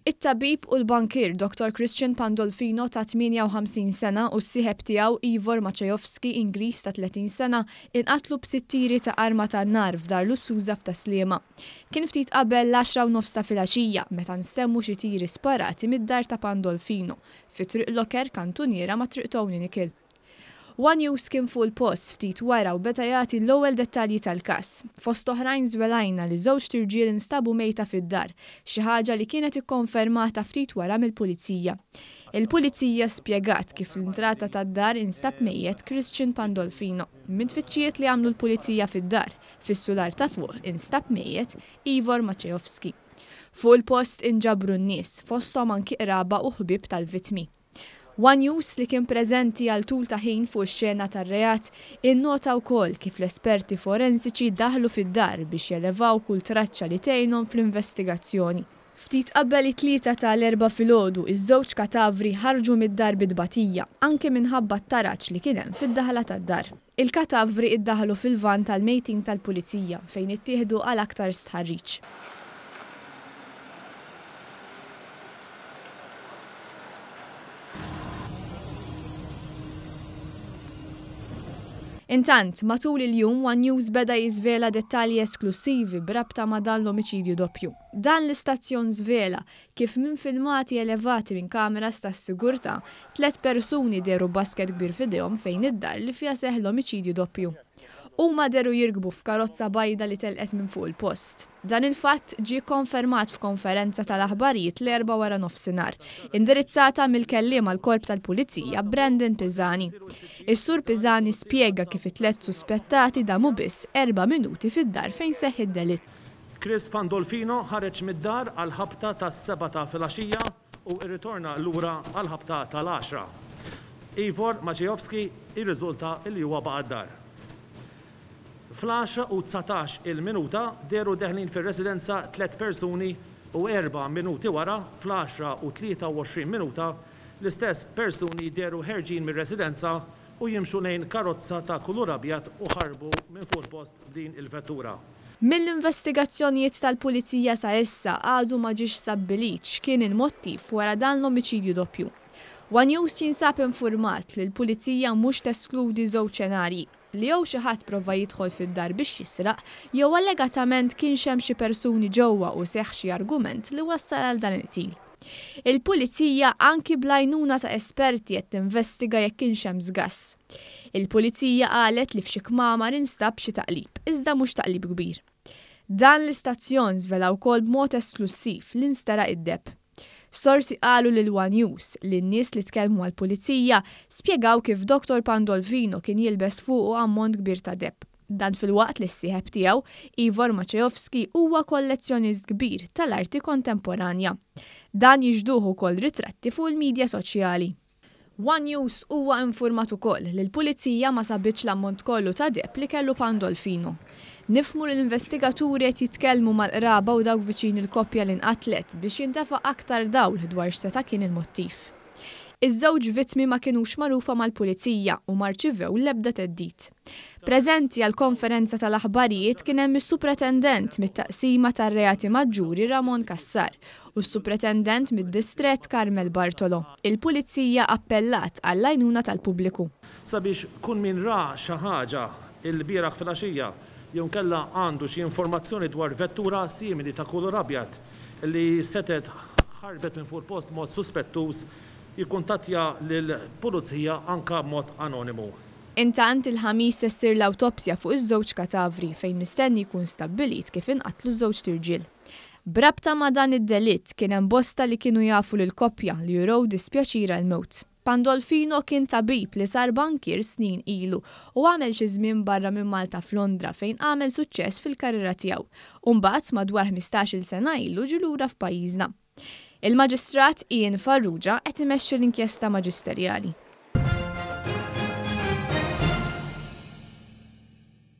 It-tabib u l-bankier Dottor Christian Pandolfino ta' 58 sena u s-sieħeb tiegħu Ivor Maciejowski, Ingliż ta' 30 sena, inqatlu b'sitt tiri ta' arma tan-nar f'dar lussuża f'Tas-Sliema. Kien ftit qabel l-għaxra u nofs ta' filgħaxija meta nstemgħu xi tiri sparati mid-dar ta' Pandolfino fi Triq Loker kantuniera ma' Triq Tony Nicol. One News kien fuq il-post ftit wara u beda jagħti l-ewwel dettalji tal-każ. Fost oħrajn żvelajna li żewġt irġiel instabu mejta fid-dar, xi ħaġa li kienet ikkonfermata ftit wara mill-Pulizija. Il-Pulizija spjegat kif fl-intrata tad-dar instab mejjet Christian Pandolfino. Mit-tfittxijiet li għamlu l-Pulizija fid-dar, fis-sular ta' fuq instab mejjet Ivor Maceovski. Fuq il-post inġabru n-nies, fosthom anki qraba u ħbieb tal-vittmi. One News, li kien preżenti għal tul ta' ħin fuq ix-xena tar-reat, innota wkoll kif l-esperti forensiċi daħlu fid-dar biex jelevaw kull traċċa li tgħinhom fl-investigazzjoni. Ftit qabel it-tlieta ta' l-Erbgħa filgħodu, iż-żewġ katavri ħarġu mid-dar bi tbatija, anke minħabba t-taraġ li kien hemm fid-daħla tad-dar. Il-katavri iddaħħlu fil-vann tal-mejtin tal-Pulizija fejn ittieħdu għal aktar stħarriġ. Intant, matul il-jum, one News beda jiżvela dettalji esklussivi b'rabta ma' dan l-omiċidju doppju. Dan l-istazzjon żvela kif minn filmati elevati minn kameras tas-sigurtà, tliet persuni dehru b'basket kbir f'idejhom fejn id-dar li fiha seħħ l-omiċidju doppju. Huma dehru jirkbu f'karozza bajda li telqet minn fuq il-post. Dan il-fatt ġie kkonfermat f'konferenza tal-aħbarijiet l-Erbgħa waranofsinhar, indirizzata mill-kelliem għall-Korp tal-Pulizija, Brandon Pisani. Is-Sur Pisani spjega kif it-tliet suspettati damu biss erba' minuti fid-dar fejn seħħ id-delitt. Chris Pandolfino ħareġ mid-dar għall-ħabta tas-sebgħa ta' filgħaxija u rritorna lura għall-ħabta tal-għaxra. Ivor Maciejowski jirriżulta li huwa baqa' d-dar. Fl-għaxra u dsatax il-minuta dehru deħlin fir-residenza tliet persuni u erba' minuti wara, fl-għaxra u tlieta u għoxrin minuta, l-istess persuni dehru ħerġin mir-residenza u jimxu lejn karozza ta' kulur abjad u ħarbu minn fuq il-post b'din il-vettura. Mill-investigazzjonijiet tal-Pulizija sa issa għadu ma ġiex stabbilit x'kien il-mottiv wara dan l-omiċidju doppju. One News jinsab infurmat li l-Pulizija mhux teskludi żewġ xenarji, li jew xi ħadd prova jidħol fid-dar biex jisraq, jew allegatament kienx hemm xi persuni ġewwa u seħħ xi argument li wassal għal dan il-qtil. Il-Pulizija anki bl-għajnuna ta' esperti qed tinvestiga jekk kienx hemm żgass. Il-Pulizija qalet li f'xi kmamar instab xi taqlib, iżda mhux taqlib kbir. Dan l-istazzjon żvela wkoll b'mod esklussiv li nsteraq id-depp. Sorsi qalu lil one News li n-nies li tkellmu mal-Pulizija spjegaw kif Doktor Pandolfino kien jilbes fuqu ammont kbir ta' depp. Dan filwaqt li s-sieħeb tiegħu, Ivor Maciejowski huwa kollezzjonist kbir tal-arti kontemporanja. Dan jixhduh ukoll ritratti fuq il-midja soċjali. One News huwa infurmat ukoll li l-Pulizija ma sabitx l-ammont kollu ta' deheb li kellu Pandolfino. Nifhmu li l-investigaturi qed jitkellmu mal-qraba u dawk viċin il-koppja li nqatlet biex jintefgħa aktar dawl dwar x'seta' kien il-mottiv. Iż-żewġ vittmi ma kinux magħrufa mal-Pulizija u ma rċivew l-ebda theddid. Preżenti għall-konferenza tal-aħbarijiet kien hemm is-Supretendent mit-Taqsima tar-Reati Maġġuri Ramon Cassar u s-Supretendent mid-Distrett Carmel Bartolo. Il-Pulizija appellat għall-għajnuna tal-pubbliku. Sabiex kun min ra xi ħaġa l-bieraħ filgħaxija jew inkella għandu xi informazzjoni dwar vettura simili ta' kulur abjad, li setgħet ħarbet minn fuq il-post b'mod suspettuż, jikkuntattja lill-Pulizija anke b'mod anonimu. Intant, il-Ħamis se ssir l-awtopsja fuq iż-żewġ katavri fejn mistenni jkun stabbilit kif inqatlu ż-żewġt irġiel. B'rabta ma' dan id-delitt, kien hemm bosta li kienu jafu lill-koppja li urew dispjaċir għall-mewt. Pandolfino kien tabib li sar bankier snin ilu u għamel xi żmien barra minn Malta f'Londra fejn għamel suċċess fil-karriera tiegħu u mbagħad madwar ħmistax-il sena ilu ġie lura f'pajjiżna. Il-Maġistrat Ian Farrugia qed imexxi l-inkjesta maġisterjali.